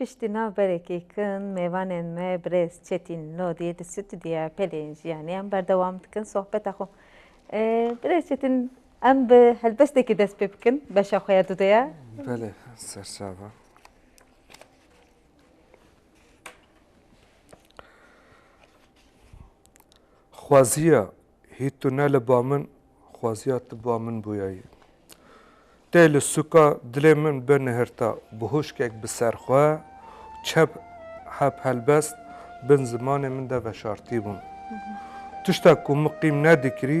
Piştî navberekê kin mêvanên me birêz Çetîn Lodî di stûdyoya pelên jiyanê em berdewam dikin sohbeta xwe. Birêz Çetîn em bi helbestekî dest pê bikin beşa xwe ya dude ya. Belê serçava. Xwaziya hî tu ne li ba min xwaziya tu ba min bûyayî. Tê li sûka dilê min bi nihirta bi hûşkek bi ser xwe çep heb helbest bin zimanê min de veşartî bûn. Tişta ku min qîm nedikirî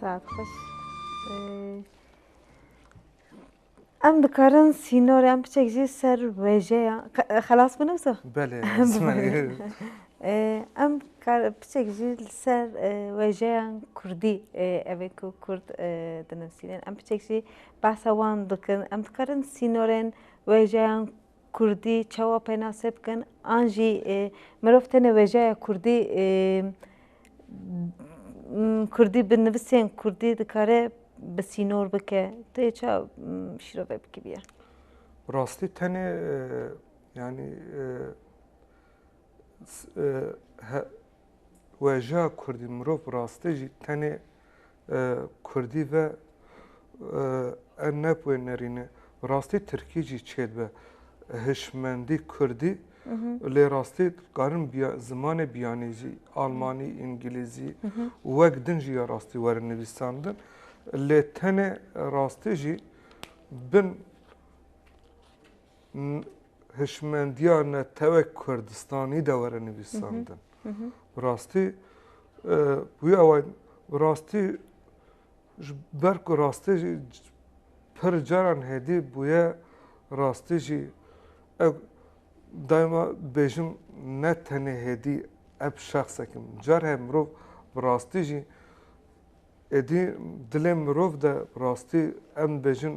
Saet xweş. Em dikarin sînorê em piçek jî ser wêjeya xelas bûne wisa? Belê Em piçek jî li ser wêjeyan Kurdî evê ku Kurd dinivîsînin em piçek jî behsa wan dikin em dikarin sînorên wêjeyan Kurdî çawa pênase bikin an jî mirov tenê wêjeya kurdî kurdî bi nivisên kurdî dikare bi sînor bike tu yê ça şîrove bikiriye? Bi rastî tenê yanî Weja kurdî mirov rastê jî tenê kurdî ve ev ne bi wê nerîne. Rastî tirkî jî çêdibe. Hişmendî kurdî lê rastî dikarin zimanê biyanî jî almanî, îngilîzî û wek din jî ya rastî werin nivîsandin. Lê tenê rastî jî bin hişmendiya netewek Kurdistanî de were nivîsandin. Bi rastî wî eway bi rastî ji ber ku rastî jî pir caran hêdî bûye rastî jî ew daima bêjim ne tenê hêdî ev şexsekim. Car he mirov bi rastî jî êdî dilê mirov de rastî em bêjin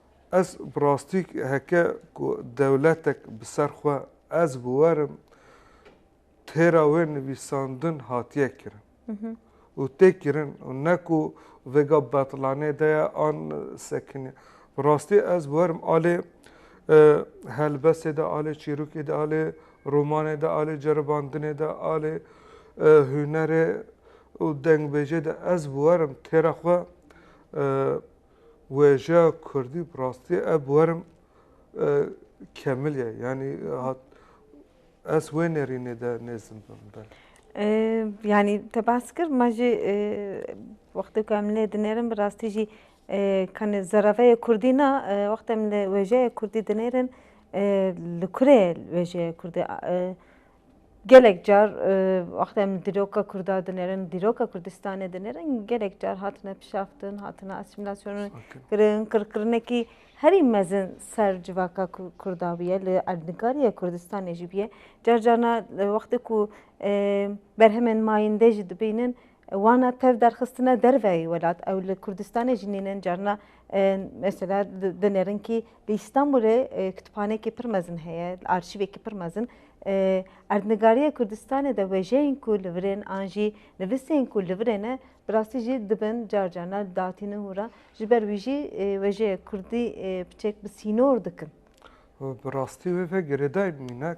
Ez bi rastî heke ku dewletek bi ser xwe ez biwerim têra wê nivîsandin hatiye kirin û tê kirin û ne ku vêga betlanê de ye an sekinî. Bi rastî ez biwerim alê helbestê de, alê çîrokê de, alê romanê de, alê ceribandinê de, alê hunerê û dengbêjê de ez biwerim têra xwe Wêjeya kurdî bi rastî ev bi werim kemil ye yanî hat ez wê nêrînê de nêzim bim belê. Yanî te behs kir me jî wextê ku em lê dinêrin bi rastî jî kanê zereveyê kurdî na wextê em li wêjeyê kurdî dinêrin li kurê wêjeyê kurdî Gelek car wexta em dîroka Kurda dinêrin, dîroka Kurdistanê dinêrin gelek car hatine pişaftin, hatine asîmîlasyonê kirin, qirkirinekî herî mezin ser civaka Kurda bûye li erdnîgariya Kurdistanê jî bûye. Car carna wextê ku berhemên mayînde jî dibînin Wana tev derxistine derveyî welat ew li Kurdistanê jî nînin carina mesela dinêrin kî li Îstanbulê kitpanekî pir mezin heye arşîvekî pir mezin erdnigariyê Kurdistanê de wêjeyên ku li vir ên an jî nivisên ku li vir ê ne bi rastî jî dibin car carina datînin hûr a ji ber wî jî wêjeyê Kurdî piçek bi sînor dikin. Bi rastî wê ve girêdayî minek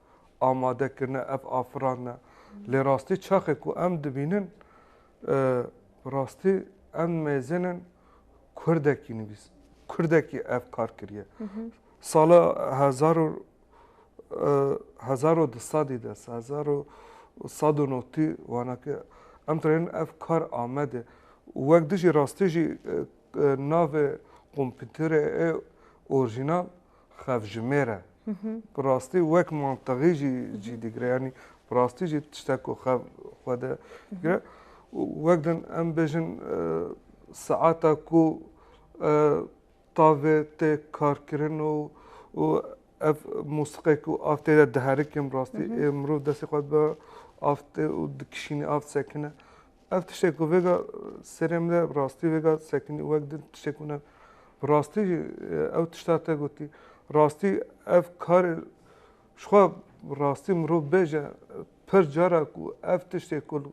amade kirine, ev afirandine. Lê rastî çaxê ku em dibînin rastî em mêzinin kurdekî nivîs, kurdekî ev kar kiriye. Sala hezar û hezar û di sedî de hezar û sed û notî wana ke em dixêrin ev kar amede û wek dijî rastî jî navê kompîterê ê orîjînal xevjimêr e. Bi rastî wek mantiqî jî cî digire yanî bi rastî jî tiştek ku xev xwe de digire û wek din em bêjin saeta ku tavê tê karkirin û û ev mûsiqê ku av tê de diherikin bi rastî mirov destê xwe bi av tê û dikişînî av sekine Ev tiştê ku vêga serê min de bi rastî vêga sekinî û wek din tiştê ku ne bi rastî jî ew tişta te gotî. Rastî ev karê jixwe bi rastî mirov bêje pir cara ku ev tiştê ku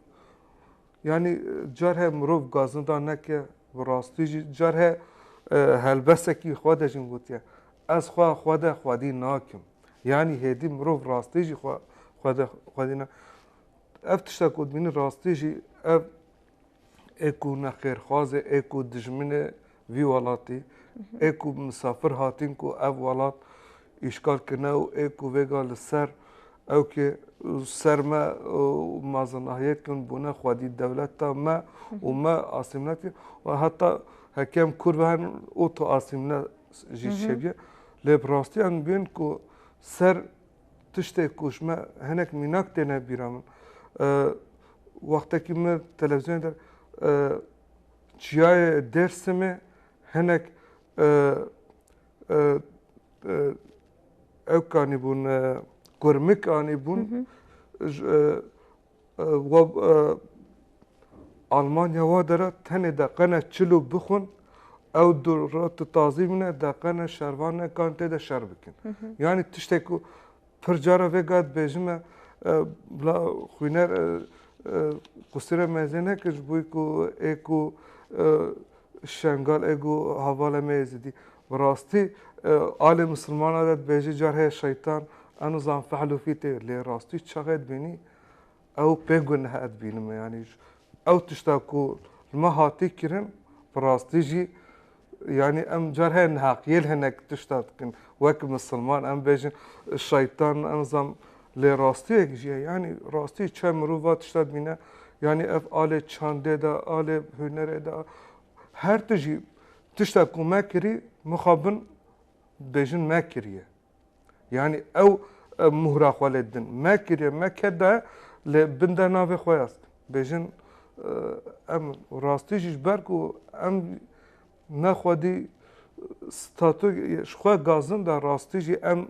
yanî car heye mirov gazinda neke bi rastî jî car heye helbesekî xwe de jî min gotiye ez xwe xwe de xwedî nakim. Yanî hêdî mirov rastî jî xwe xwe de xwedî ne. Ev tişta ku dibînin rastî jî ev ê ku nexêrxwaz e, ê ku dijmin e vî welatî, ê ku misafir hatîn ku ev welat îşgal kirine û ê ku vêga li ser ew kê ser me mazinahiyet kirin bûne xwedî dewleta me û me asîmne kir û heta heke em Kurd ve herin û tu asîmne jî çêbî lê bi rastiyan dibînin ku ser Tiştê ku ji me hinek mînak têne bîra min. Wextekî min televîzyonê der çiyayê Dêrsimê hinek ewk anîbûn kurmik anîbûn. We Almanya wa de re tenê deqene çil û bixwin ew du roti tazî bine deqene şervanekan tê de şer bikin. Yanî tiştek ku pir cara vê gat bêjim e bila xwîner qusîre mezê neke ji bo ku ê ku şengal ê ku hevalê me êzidî. Bi rastî alê misilmana de dibêjî car heye şeytan eno zan fehl û fî tê lê rastî çaxê dibînî ew pê gunehe dibînime yanî ew tişta ku li me hatî kirin bi rastî jî yanî em car heye nihaqiyê li hinek tişta dikin wek misilman em bêjin şeytan eno zan lê rastiyek jî ye yanî rastî çe mirov va tişta dibîne yanî ev alê çandê de alê hunerê de her tu jî Tişta ku me kirî mixabin dibêjin me kiriye. Yanî ew muhra xwe lê din. Me kiriye, me ket daye lê bin de navê xwe ya stin. Bêjin em rastî jî ji ber ku em ne xwedî statû ji xwe gazin de rastî jî em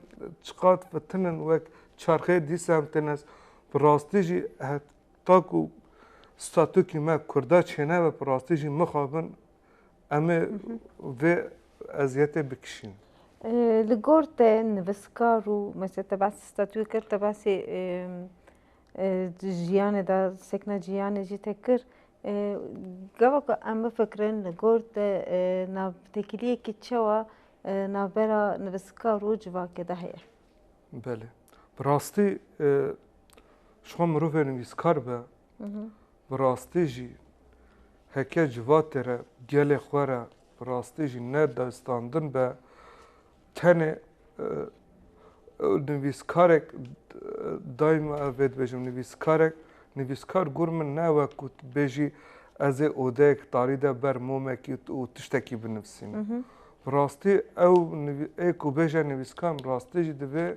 çiqat fitinin wek çarxê dîsa em têne bi rastî jî heta ku statûkî me kurda çênebe bi rastî jî mixabin Em ê vê eziyetê bikişîn. Li gor te niviskar û mesela te behsî statûyê kir, te behsî jiyanê de sekna jiyanê jî te kir. Gava ku em bifikirin li gor te navtekiliyekî çawa navbera niviskar û civakê de heye? Belê. Bi rastî ji xwe mirovê nivîskar be Bi rastî jî heke civatê re, gelê xwe re bi rastî jî ne dayîstandin be, tenê nivîskarek dayîma ev vê dibêjim nivîskarek, nivîskar gor min ne ew e ku tu bêjî ez ê odeyek tarî de ber momekî û tiştekî binivîsînim. Bi rastî ew ê ku bêje nivîskar bi rastî jî divê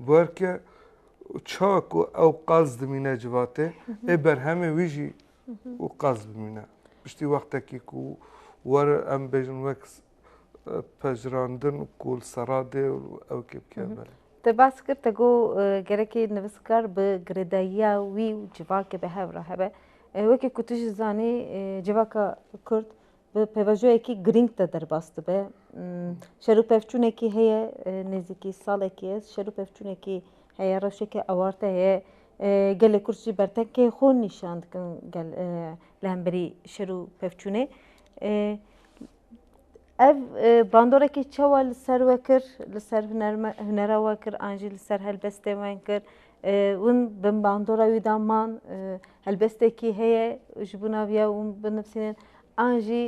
Guherke ça ku ew qaz dimîne civatê ê berhemê wî jî û qaz bimîne. Piştî wextekî ku wer em bêjin wek pejirandin ku li serra dê û ew kê bike belê. Te bas kir te got gerekê nivîskar bi girêdayiya wî û civakê bi hev re hebe. Wekî ku tu jî zanî civaka kurd bi pêvajoyekî girîng de derbas dibe. Şer û pevçûnekî heye nêzîkî salekî ye, şer û pevçûnekî heye, rewşeke ewarte heye. Gelê Kurd jî bertenkê xwe nîşan dikin gel li hemberî şer û pevçûnê. Ev bandorekî çawa li ser we kir, li ser hunera we kir an jî li ser helbestên we kir. Hûn bi bandora wî de man, helbestekî heye ji bo naviya hûn binivîsînin an jî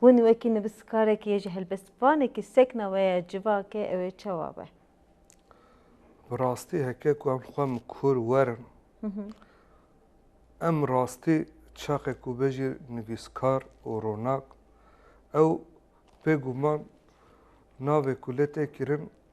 hûn wekî nivîskarekî yê ji helbestvanekî sekna we ya civakê ew ê çawa be? Bi rastî heke ku em dixwin bi kûr werin, em bi rastî çaxê ku be jî nivîskar û ronak, ew bêguman navê ku lê tê kirin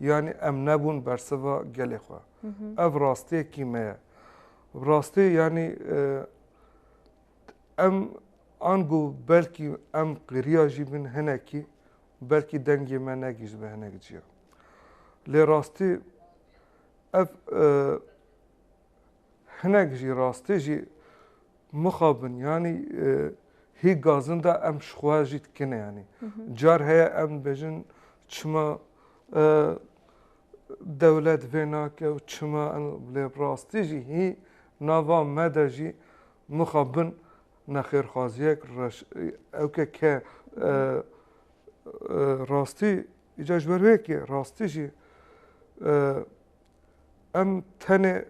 Yanî em nebûn bersiva gelê xwe. Ev rastiyekî me ye. Rastî yanî em ango belkî em qiriya jî bin hinekî belkî dengê me negihîştibe hinek cîya. Lê rastî ev Hinek jî rastî jî mixabin yanî hî gazin de em ji xwe jî dikine yanî. Car heye em dibêjin çima dewlet vê nake û çima lê rastî jî hî nava me de jî mixabin nexêrxwaziyek reş ew ke ke rastî îcar ji ber wê yekê rastî jî Em tenê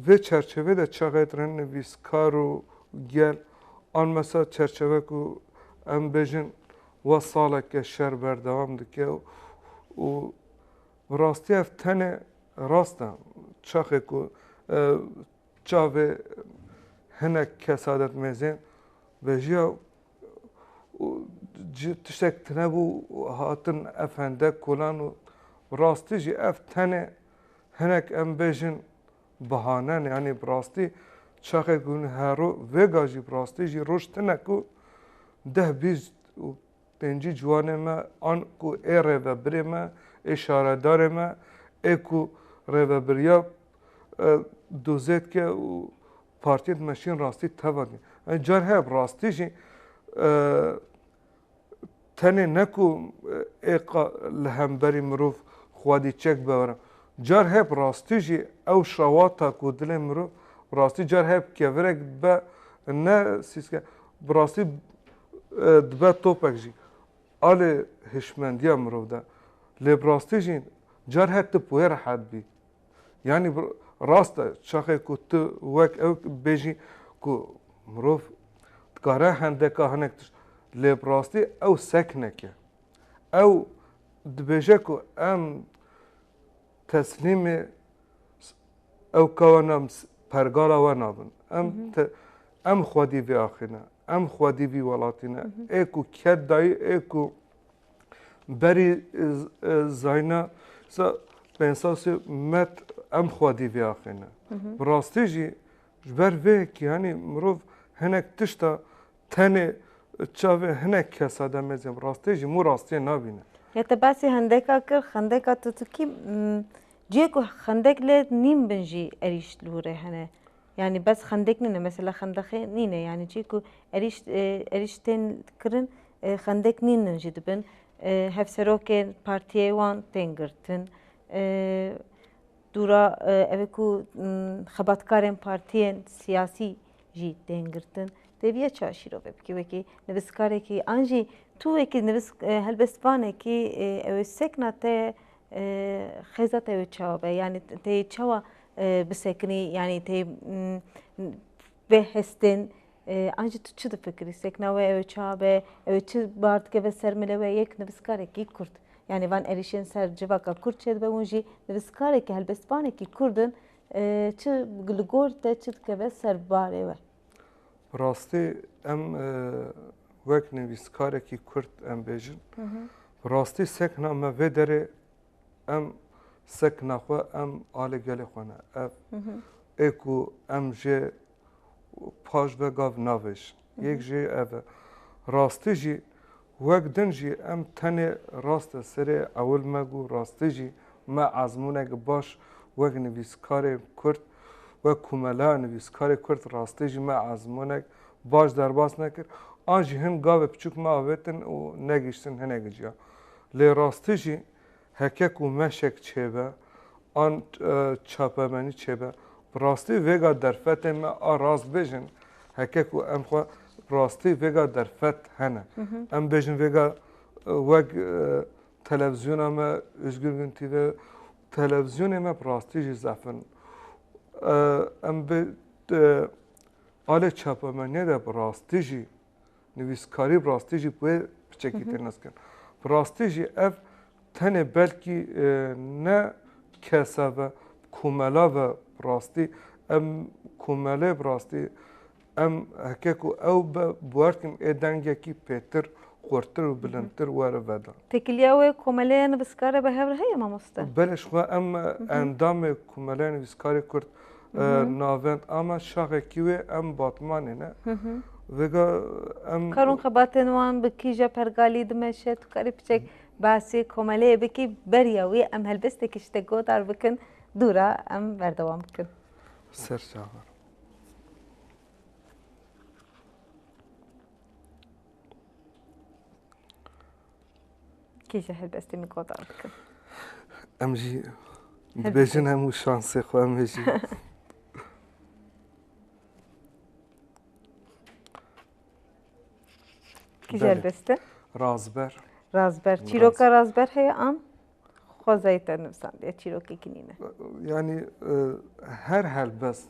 vê çerçevê de çaxêtirin nivîskar û gel an mesa çerçeve ku em bêjin wa saleke şer berdewam dike û bi rastî ev tenê rast e çaxê ku çavê hinek kesadetmêzên vejiya û tiştek tunebû û hatin ev hendek kolan û bi rastî jî ev tenê hinek em bêjin bahane ne yanî bi rastî çaxê ku hûn hero vêga jî bi rastî jî roj tune ku deh bîst û pêncî ciwanê me an ku ê rêvebirê me ê şaredarê me ê ku rêvebiriya dozê dike û Partiyên di me şîn rastî teva dîn. Ev car heye bi rastî jî tenê ne ku êqa li hemberî mirov xwedî çek bewere. Car heye bi rastî jî ew şewata ku dilê mirov bi rastî car heye bi kevirek dibe ne sîske bi rastî dibe topek jî alê hişmendiya mirov de. Lê bi rastî jî car heye tu wê rehet bî. Yanî rast e çaxê ku tu wek ew bêjî ku mirov dikare hendeka hinek tişt lê bi rastî ew sek neke. Ew dibêje ku em teslîmê ew kawa ne pergala we nabin. Em em xwedî vêaxîne, em xwedî vî welatî ne. Ê ku ket dayî ê ku Berî Zayna Pensasê Met em xwedî vêaxêne. Bi rastî jî ji ber vê yekî henî mirov hinek tişta tenê çavê hinek kesa de mêzin bi rastî jî mû rastiyê nabîne. Ya te basî hendeka kir xendeka tutukî ciyê ku xendek lê nîm bin jî erîşt li wir e hene. yanî bes xendek nîne mesela xendexê nîne yanî çî ku erîş erîş tên kirin xendek nînin jî dibin hevserokên partiyê wan tên girtin dûra ev ê ku xebatkarên partiyên siyasî jî tên girtin tê bîya çi şîrove bikî wekî nivîskarekî an jî tu wekî nivîsk helbestvanekî ew ê sekna te Xêza te wê çawa be? Yanî tê çawa bisekinî? Yanî tê vê hestên an jî tu çi difikirî? Sekna wê ew ê çawa be? Ew ê çi bar dikeve ser milê we? Yek nivîskarekî kurd yanî van êrîşên ser civaka kurd çêdibe hûn jî nivîskarekî helbestvanekî kurd in çi li gor te çi dikeve ser barê we? Bi rastî em wek nivîskarekî Kurd em bêjin bi rastî sekna me vê derê em sekna xwe em alê gelê xwe ne. Ev ê ku em jê paş ve gav navêjin. Yek jê ev e. Rastî jî Wek din jî em tenê raste serê ewil me ku rastî jî me ezmûneke baş wek nivîskarên Kurd, wek Komeleya Nivîskarê Kurd rastî jî me ezmûnek baş derbas nekir. An jî hin gavê piçûk me avêtin û negihiştin hinekî ciya. Lê rastî jî Heke ku meşek çêbe an çapemenî çêbe bi rastî vêga derfetên me a rast bêjin, heke ku em xwe bi rastî vêga derfet hene. Em bêjin vêga wek televizyona me Ozgur Gün TV televizyonê me bi rastî jî zef in. Em bi alê çapemeniyê de bi rastî jî nivîskarî bi rastî jî bi wê piçekî tê nizkin. Bi rastî jî ev tenê belkî ne kesa ve komela ve bi rastî em komelê bi rastî em heke ku ew be bi wer dikin ê dengekî pêtir xurtir û bilindtir were veda. Têkiliya wê komelê nivîskar e bi hev re heye mamoste? Belê ji xwe em endamê komeleya nivîskarê Kurd Navend ama şaxekî wê em batmanê ne. Vêga em Karûn xebatên wan bi kîja pergalî dimeşe tu karî piçek basê komeleyê bikî beriya wî em helbestekî ji te godar bikin dûra em berdewam bikin. Serçavan. Kî ji helbestê min gotar bikin? Em jî dibêjin hemû şansê xwe em ê jî. Kî ji helbest e? Razber. Razber. Çîroka razber heye an? Xwezayê te nivîsandiye çîrokekî nîne. Yanî her helbest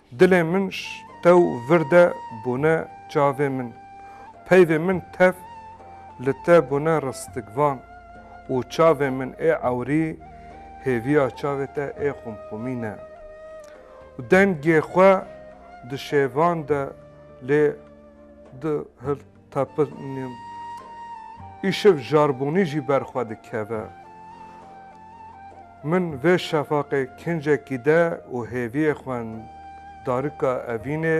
Dilê min ji tew vir de bûne çavê min, peyvê min tev li te bûne ristikvan û çavê min ê ewrî hêviya çavê te ê xûmxûmî ne. Dengê xwe di şêvan de lê di Te pir nîm. Îşev jarbûnî jî ber xwe dikeve. Min vê şefaqê kincekî de û hêviyê xwe darika evînê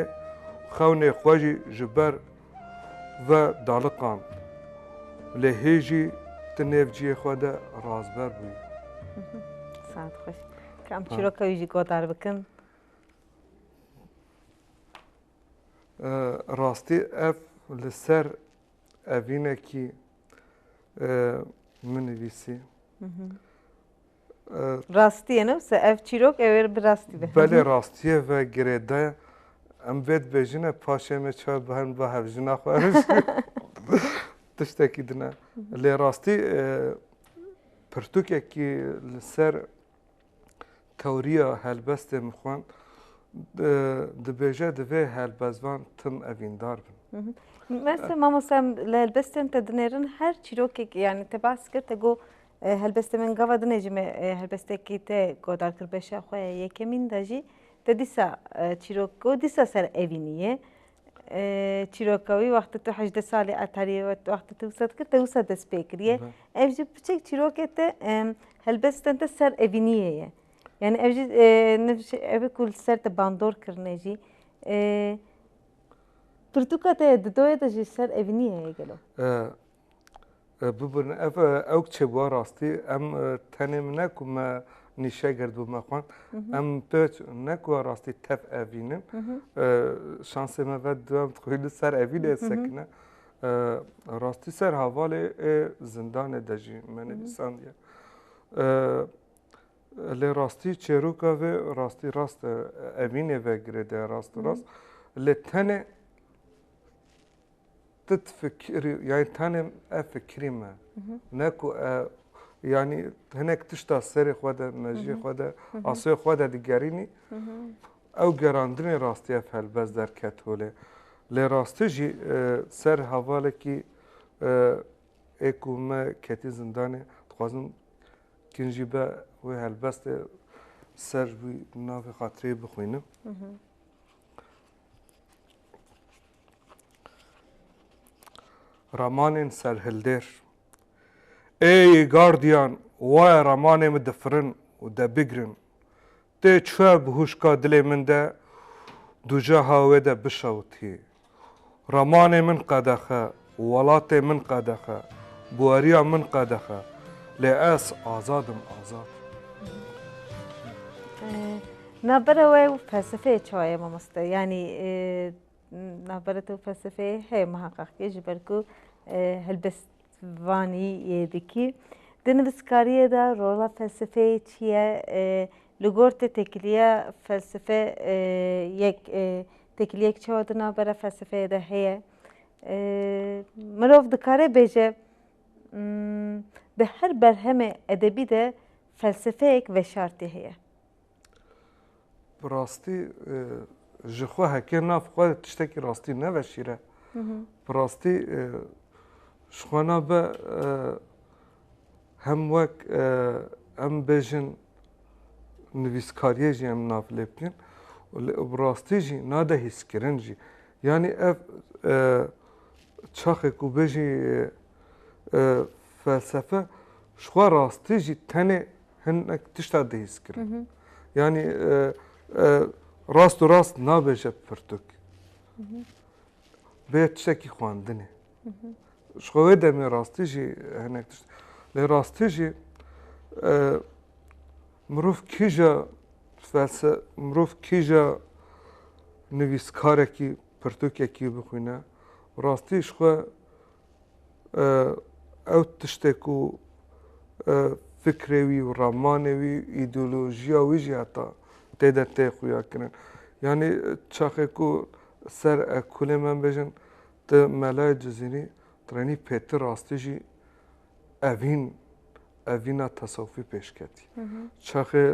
xewnê xwe jî ji ber ve daliqand. Lê hê jî ti nêv ciyê xwe de razber bûyî. Saet xweş. Ka em çîroka wî jî godar bikin. Rastî ev li ser evînekî min nivîsî. Rastî ye ne wisa ev çîrok ew ê bi rastî be. Belê rastî ye ve girêda ye. Em vê dibêjine paşê me çawa bi herin ba hevjina xwe tiştekî dine. Lê rastî pirtûkekî li ser tewriya helbestên xwe dibêje divê helbestvan tim evîndar bin. Meste mamosta li helbestên te dinêrin her çîrokek yani te bas kir te got helbestê min gava dinê jî me helbestekî te guhdar kir beşa xwe ya yekemîn de jî te dîsa çîrok got dîsa ser evînî ye. çîroka wî wextê tu hejdeh salî etarî wextê tu wisa dikir te wisa dest pê kiriye ev jî piçek çîrokê te helbet sten te ser evîniyê ye yanî ev jî ev ku li ser te bandor kirine jî pirtûka te di doyê de jî ser evîniyê ye gelo Bibin ev ewk çêbûya rastî em tenê min ne ku me nîşe gird bû me xwend em pê ne ku rastî tev evînin şansê me ve duyem dixwî li ser evîn ê sekine rastî ser havalê ê zindanê de jî me nivîsandiye lê rastî çêroka vê rastî rast evînê ve girêdaya rast rast lê tenê Ti difikirî yanî tenê ev fikirî me ne ku yanî hinek tişta serê xwe de mejiyê xwe de asê xwe de digerînî ew gerandinê rastî ev helbest derket holê. Lê rastî jî ser hevalekî ê ku me ketî zindanê dixwazim kin jî be wê helbestê ser wî navê xatireyê bixwînim. Ramanên serhildêr Êy gardiyan waye ramanê min difirin û debigrin. Tê çûye bi hûşka dilê min de dûceha wê de bişewitî. Ramanê min qedexe. Welatê min qedexe, bweriya min qedexe, lê ez azad im, azad. Navbera we û felsefeyê çawa ye mamoste? Yanî navbera te û felsefeyê heye muheqeq kê ji ber ku helbest vanî yê dikî. Di nivîskariyê de rola felsefeyê çi ye? Li gor te têkiliya felsefe yek têkiliyek çawa di navbera felsefeyê de heye? Mirov dikare bêje di her berhemê edebî de felsefeyek veşartî heye. Bi rastî ji xwe heke nav xwe tiştekî rastî neveşîre. Bi rastî ji xwe na be hem wek em bêjin nivîskariyê jî em nav lê bikîn û li bi rastî jî nade hîskirin jî. Yanî ev çaxê ku bêjî felsefe ji xwe rastî jî tenê hinek tişta dihîskirin. Yanî rast û rast nabêje pirtûk bê tiştekî xwendinê. Ji xwe wê demê rastî jî hinek tişt. Lê rastî jî mirov kîja felse mirov kîja nivîskarekî pirtûkekî bixwîne rastî ji xwe ew tiştê ku fikrê wî û ramanê wî îdeolojiya wî jî heta tê de tê xuya kirin. Yanî çaxê ku ser ekolê me bêjin Ti melayê Cizîrî tirenî pê ti rastî jî evîn evîna tesewufî pêş ketî. Çaxê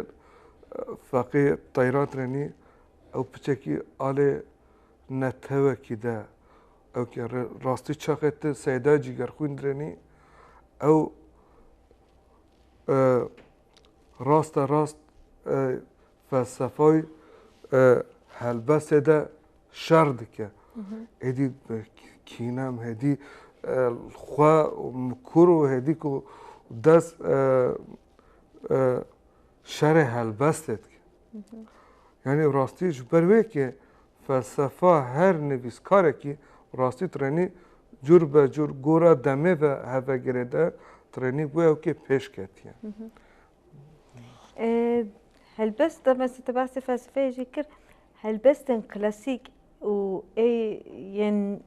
Feqî Teyran tirenî ew piçekî alê netewekî de ew ke rastî çaxê ti Seyda Cîgerxwîn direnî ew rasta rast felsefay helbestê de şer dike. Êdî kîne em hêdî xwe mikur û hêdî ku dest şerê helbestê dike. Yanî rastî ji ber wê ke felsefa her nivîskarekî rastî trenî cûr be cûr gora demê ve hevegirê de trenî wê ew kê pêş ketiye. Helbest me tu basê felsefeyê jî kir helbestên klasîk û ê yên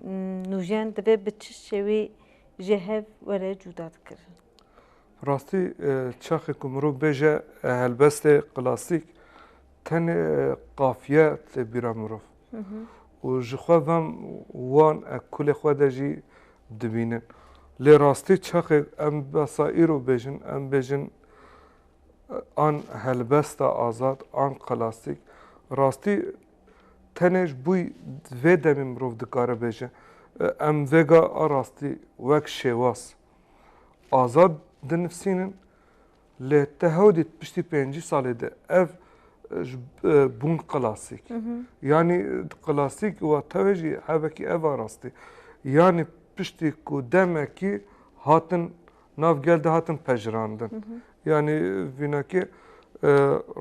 nûjen divê bi çi şêwê ji hev were cûda dikirin? Rastî çaxê ku mirov bêje helbestê klasîk tenê qafiye tê bîra mirov û jixwe ve wan kulê xwe de jî dibînin. Lê rastî çaxê em besa îro bêjin, em bêjin an helbesta azad, an klasîk, rastî tenê ji bo vê demê mirov dikare bêje, em vêga a rastî wek şêwaz azad dinivîsînin Lê te hewdî di piştî pêncî salê de ev ji bûn klasîk. Yanî klasîk û tewê jî hevekî ev a rastî. Yanî piştî ku demekî hatin nav gel de hatin pejirandin. Yanî vînakê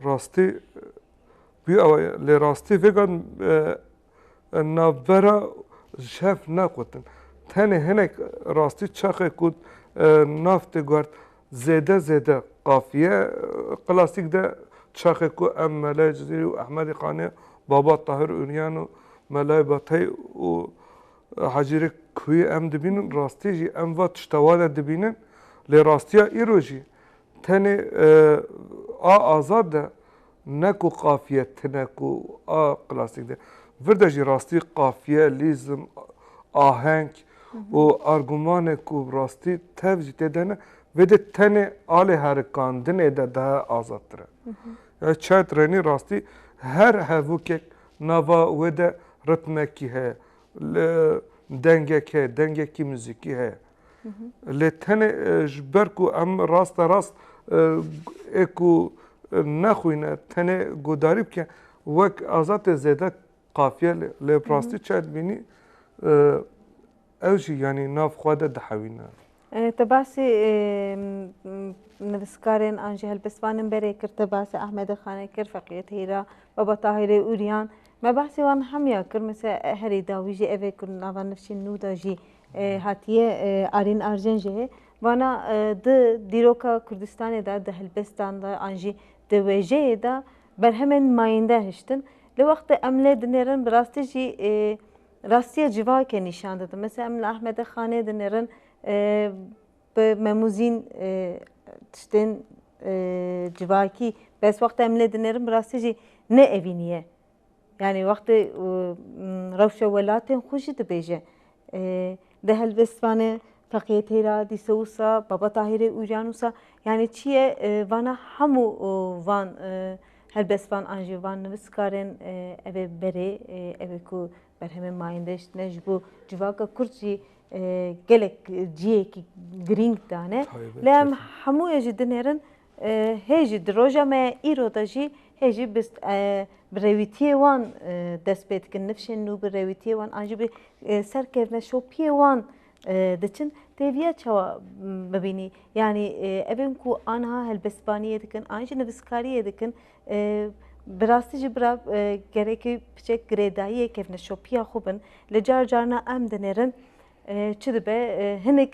rastî bûye ew e. Lê rastî vêga navbera şev nexwetin. Tenê hinek rastî çaxê ku nav tê guhert zêde zêde qafiye klasîk de çaxê ku em Melayê Cizîrî û Ehmedî Xanê Baba Tahir Ûryan û Melayê Batey û Hecîrê Kuyê em dibînin rastî jî em va tişta wan e dibînin lê rastiya îro jî tenê a azad de Ne ku qafiye tune ku a klasîk de vir de jî rastî qafiye, lîzm, aheng û argumanê ku bi rastî tev jî tê de ne, vê de tenê alê herikandinê de daha azadtir e. Ya çay trenî rastî her hevokek nava wê de ritmekî heye, dengek heye, dengekî muzîkî heye. Lê tenê ji ber ku em raste rast ê ku nexwîne tenê guhdarî bike wek azad ê zêde qafiye lê lê bi rastî çaye dibînî ew jî yanî nav xwe de dihewîne. Te basî nivîskarên an jî helbestvanên berê kir, te basî Ahmedê Xanê kir, Feqîyê Teyra, Baba Tahîrê Uryan. Me behsê wan hemiya kir, mesela herî dawî jî ev ê ku nava nifşên nû de jî hatiye Arîn Arjen jî hê vana di dîroka Kurdistanê de di helbestan de an jî di wêjeyê de berhemên mayînde hiştin. Li wextê em lê dinêrin bi rastî jî rastiya civakê nîşan didin. Mesela em li Ahmedê Xanê dinêrin Bi memûzîn tiştên civakî bes wextê em lê dinerin bi rastî jî ne evînî ye. Yanî wextê rewşa welatên xwe jî dibêje. Di helbestvanê Feqiyê Teyra, Dîsa Wisa, Baba Tahîrê, Ûjan Wisa yanî çi ye vana hemû van helbestvan an jî van nivîskarên ev ê berê ev ê ku Berhemên Mayîndeş tune ji bo civaka Kurd jî gelek cihêkî girîng dane. Lê em hemû yê jî dinêrin hê jî di roja me ya îro de jî hê jî bi rewîtiyê wan dest pê dikin nifşên nû bi rewîtiyê wan an jî bi serkevne şopiyê wan diçin têviya çawa bibînî yanî evên ku aniha helbestvaniyê dikin an jî nivîskariyê dikin Bi rastî jî bira gerekî piçek girêdayiyê kevneşopiya xwe bin li car car na em dinêrin çi dibe hinek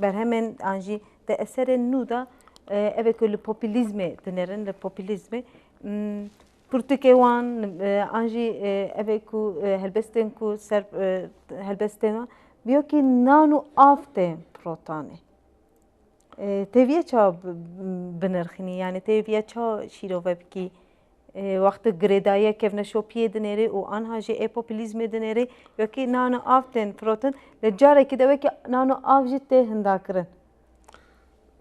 berhemên an jî di eserên nû de ev ê ku li popîlîzmê dinêrin li popîlîzmê pirtûkê wan an jî ev ê ku helbestên ku ser helbestên wan bîyo kî nan û av tên pirotanê. Têvîya ça binirxînî yanî têvîya ça şîrove bikî wext tu girêdayîya kevna şopîyê dinêrê û anha jî ê populîzmê dinêrê wekî nano av tên firotin li carekî de wekî nano av jî tê hindakirin.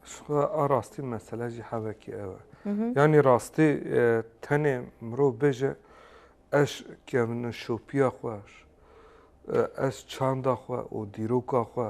Şixwe a rastî mesele jî hevekî ew e. Yanî rastî tenê mirov bêje ez kevna şopîya xwe ez çanda xwe û dîroka xwe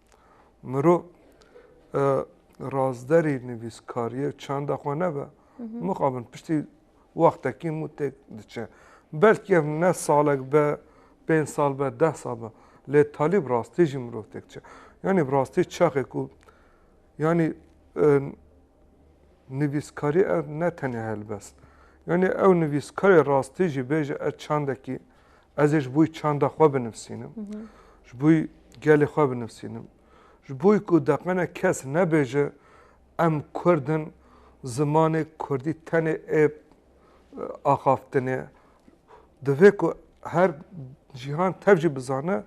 Mirov razderî nivîskariyê û çanda xwe nebe, mixabin piştî wextekî hemû têk diçe. Belkî ev ne salek be, pênc sal be, deh sal be lê talî bi rastî jî mirov têk diçe. Yanî bi rastî çaxê ku yanî nivîskarî ev ne tenê helbest. Yanî ew nivîskarê rastî jî bêje ez çandekî Ez ê ji bo çanda xwe binivîsînim, ji bo gelê xwe binivîsînim, ji bo ku deqene kes nebêje em kurd in, zimanê kurdî tenê ê axaftinê. Divê ku her cîhan tev jî bizane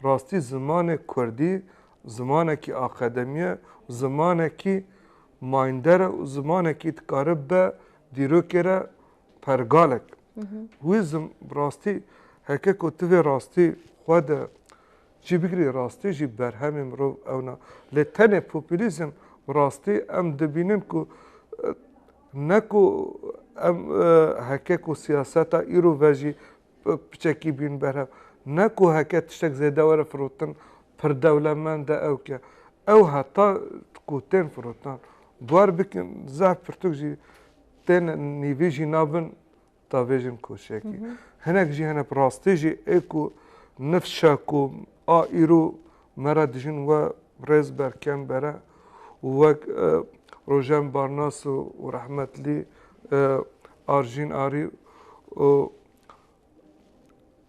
rastî zimanê kurdî zimanekî akademî ye, zimanekî mayînder e û zimanekî dikare bibe dîrokê re pergalek. Huizm bi rastî heke ku tu vê rastî xwe de cî bigirî rastî jî berhemê mirov ew na. Lê tenê populîzm bi rastî em dibînin ku ne ku em heke ku siyaseta îro ve jî piçekî bîn berhev. Ne ku heke tiştek zêde were firotin pir dewlemend e ew ke. Ew heta ku tên firotin guer bikin zehf pirtûk jî Tên nîvî jî nabin tavêjin koçekî. Hinek jî hene bi rastî jî ê ku nifşa ku a îro me re dijîn we rêz ber kem bere û wek Rojen Barnas û rehmetlî Arjîn Arî û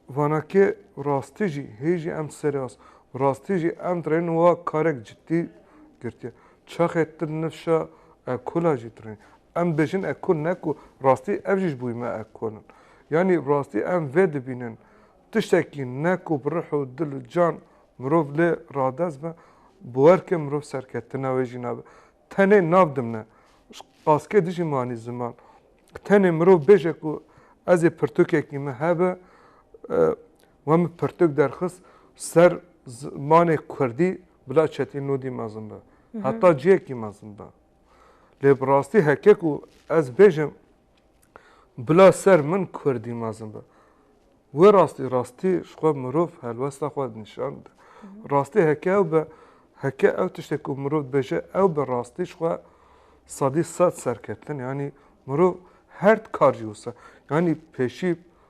Vana ke rastî jî hê jî em seras rastî jî em dirên wa karek cidî girtiye. Çaxê til nifşa ekola jî dirên. Em dibêjin ekol ne ku rastî ev jî ji bo me ekol in. Yanî rastî em vê dibînin tiştekî ne ku bi rih û dil û can mirov lê radest be bi werkê mirov serketina wê jî nabe. Tenê nav dimne. Qaskê dijî manî ziman. Tenê mirov bêje ku ez ê pirtûkekî min hebe, we min pirtûk derxist ser zimanê kurdî bila çetî nûdî mezin be. Heta ciyekî mezin be. Lê bi rastî heke ku ez bêjim Bila ser min kurdî mezin be. Wê rastî rastî ji xwe mirov helwesta xwe nîşan bide. Rastî heke ew be, heke ew tiştê ku mirov dibêje ew be rastî ji xwe sedî sed serkeftin yanî mirov her di kar jî wisa yanî pêşî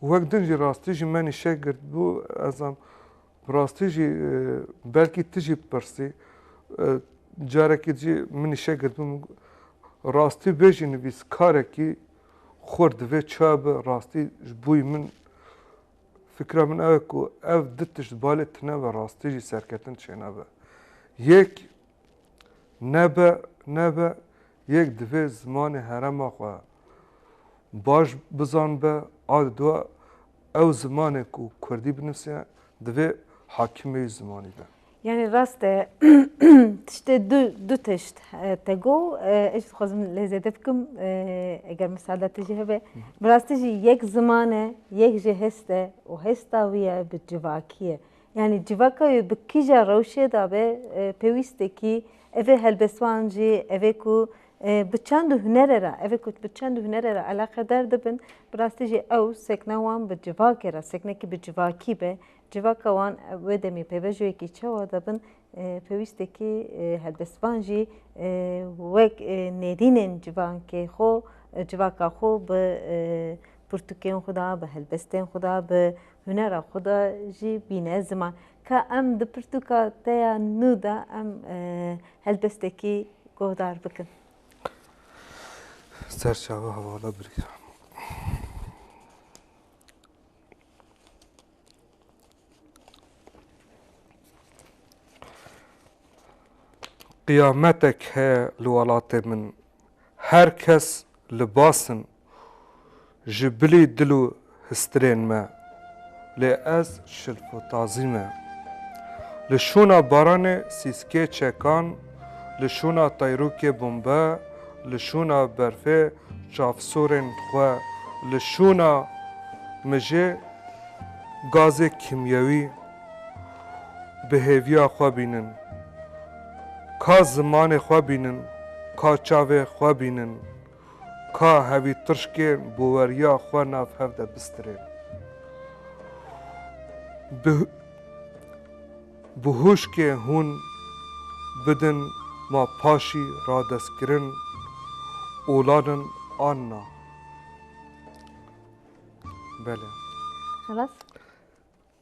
Wek din jî rastî ji menî şek girt bû ez am bi rastî jî belkî tu jî bipirsî carekî jî minî şek girt bû rastî vê jî nivîskarekî xurt divê çawa bi rastî ji boî min fikra min ew e ku ev di tişt balê tune ve rastî jî serketin çênabe. Yek nebe nebe Yek divê zimanê herêma xwe baş bizanbe, a di duwa ew zimanê ku kurdî binivîse divê hakim be wî zimanî be. Yanî rast e tiştê du du tişt te got ez jî dixwazim lê zêde bikim eger misaada te jî hebe. Bi rastî jî yek ziman e, yek jî hêst e û hêsta wî ye bi civakî ye. Yanî civaka wê bi kîja rewşê de be pêwîst e kî evê helbestvan jî evê ku bi çend û hunere re evê ku bi çend û hunere re eleqedar dibin bi rastî jî ew sekna wan bi civakê re seknekî bi civakî be civaka wan wê demê pêvajoyekî çawa dibin Pêwîstekî helbestvan jî wek nêrînên civakê xwe civaka xwe bi pirtûkên xwe de bi helbestên xwe de bi hunera xwe de jî bîne ziman. Ka em di pirtûka te ya nû de em helbestekî guhdar bikin. Serçawa hevala birî. Qiyametek heye li welatê min. Her kes li bas in ji bilî dil û histirên me. Lê ez şilfotazî me. Li şûna baranê sîskê çekan. Li şûna tayrûkê bombe Li şûna berfê çavsorên xwe Li şûna mijê gazê kîmyewî Bi hêviya xwe bînin Ka zimanê xwe bînin Ka çavê xwe bînin Ka hevî tirşkên boweriya xwe nav hev de bistirên Bi Bi huşkê hûn bidin ma paşî radestkirin olanin an na. Bele. Xelas?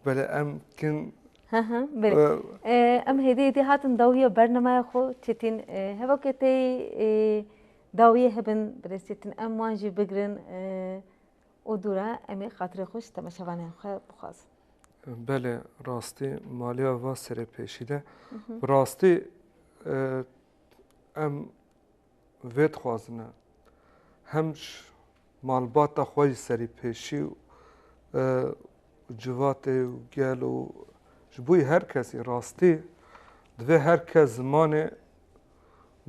Bele em kin Ha ha bele. Em hêdî hêdî hatin dawiya bernamaya xwe çêtîn heva ke tey dawiyê hebin bi dest çêtin em wan jî bigirin û dûr e em ê xatirê xwe ji temaşevanên xwe bixwazin. Belê rastî maliya va serê pêşî de bi rastî em vê dixwazin e hem ji malbata xwe ji serî pêşî û civatê û gel û ji bo her kesî rastî divê her kes zimanê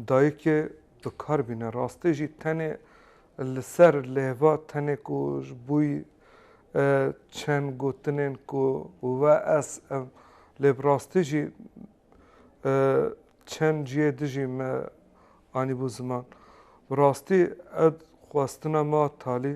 Dayikê dikar bîne rastî jî tenê li ser lêva tenê ku ji bo çend gotinên ku we ez em lê bi rastî jî çend cihê dijî me anîbû ziman. Bi rastî ev xwestina me a talî.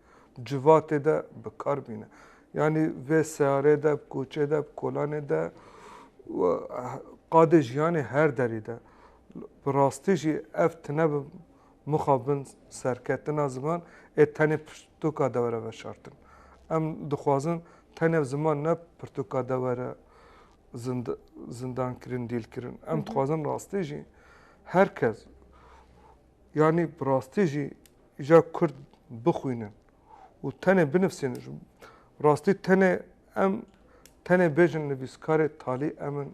civatê de bikar bîne. Yanî vê seyarê de, koçê de, kolanê de û qadê jiyanê her derî de. Bi rastî jî ev tine bi mixabin serketina ziman ê tenê pirtûka dewere veşartin. Em dixwazin tenê ziman ne pirtûka dewere zindankirin, dîlkirin. Em dixwazin rastî jî her kes yanî bi rastî jî Ja Kurd bixwînin û tenê binivsînin ji rastî tenê em tenê bêjin nivîskarê talî em in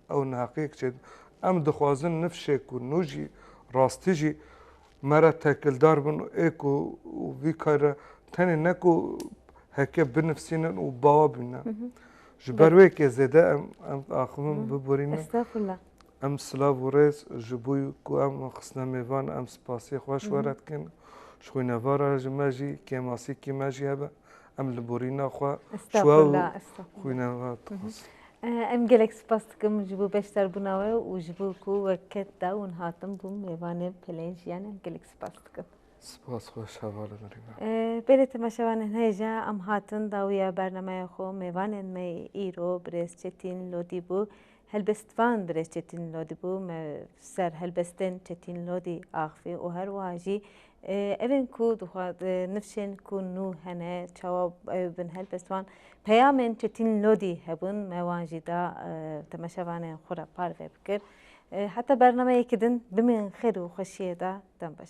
ew neheqiyek çê dike. Em dixwazin niv şê ku nû jî rastî jî me re tekildar bin û ê ku vî kar re tenê ne ku heke binivsînin û bawa bînin. Ji ber wê yekê zêde em em axivin biborînin. Estağfurullah. Em silav û rêz ji bo ku em xistine me van em spasiyê xwe ji we re dikin. Ji xwîneva re ji me jî kêmasîkî me jî hebe em li borîna xwe ji we û xwîneva dixwazin. Em gelek spas dikim ji bo beşdarbûna we û ji bo ku wek ket da hûn hatin bûn mêvanê Peleyên Jiyanê em gelek spas dikim. Spas xweş heval e Nirîna. Bêrê temaşevanên hêja em hatin dawiya bernameya xwe mêvanên me îro birêz Çetîn Lodî bû Helbest van Birêz Çetin Lodî bû, me ser helbestên Çetin Lodî axivî û her wiha jî evên ku nifşên ku nû hene çawa ew bin helbest wan peyamên Çetin Lodî hebûn me wan jî da temeşevanên xwe re parve bikir. Heta bernameyekî din bimînin xêr û xweşiyê de dem baş.